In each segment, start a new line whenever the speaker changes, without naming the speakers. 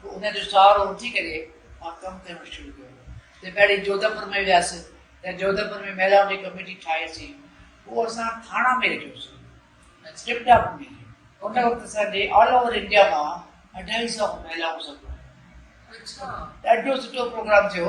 پوء ان جو سهارو وٺي ڪري مان ڪم ڪرڻ شروع ڪيو ته پهرين جوڌپور ۾ وياسين ته جوڌپور ۾ مهلائن جي ڪميٽي ٺاهي سين پوء اسان ٿاڻا ۾ رهيو سين ۽ ٽرپٽا به ملي ان وقت اسان جي آل اوور انڊيا مان اڍائي سئو مهلائون سڀ ڏاڍو سٺو پروگرام ٿيو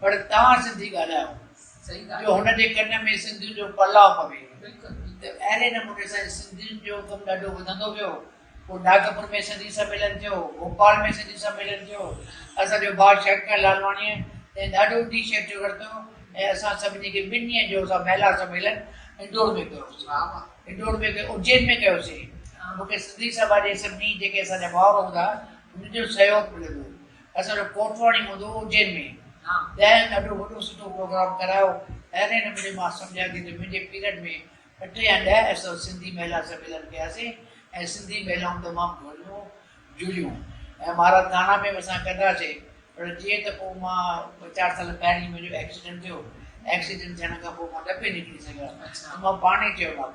پر توهان سنڌي ڳالهايو جو هن جي ڪن ۾ سنڌين جو پلاء پوي ته اهڙي نموني سان سنڌين جو ڪم ڏاڍو وڌندو ويو پوء ناگپور ۾ سنڌي سميلن ٿيو ڀوپال ۾ سنڌي سميلن ٿيو اسانجو ڀاء شهرڪيان لالواڻيء تنهن ڏاڍو انيشيٽو ورتو ۽ اسان سڀني کي ٻن ڏينهن جو اسان مهيلا سميلن انڊور ۾ ڪيوسي انڊور ۾ اجين ۾ ڪيوسي مون کي سنڌي سڀا جي سڀني جيڪي اسانجا ڀائر هوندا انهن جو سهيوگ ملندو اسان جو ڪوٽواڻي مدو اجين ۾ ڏهن اڏو وڏو سٺو پروگرام ڪرايو اهڙي نموني مان سمجهان ٿي ته منهنجي پيريڊ ۾ اٺ يا ڏهه ايسو سنڌي مهلا سميلن ڪياسين ۽ سنڌي مهلائون تمام گهريون جڙيون ۽ مهاراج ٿاڻا ۾ به اسان ڪنداسين پر جيئن ته پوء مان ٻه چار سال پهرين منهنجو ايڪسيڊنٽ ٿيو ايڪسيڊنٽ ٿيڻ کان پوء مان نه پئي نڪري سگهيو ته مان پاڻ ئي چيو مانس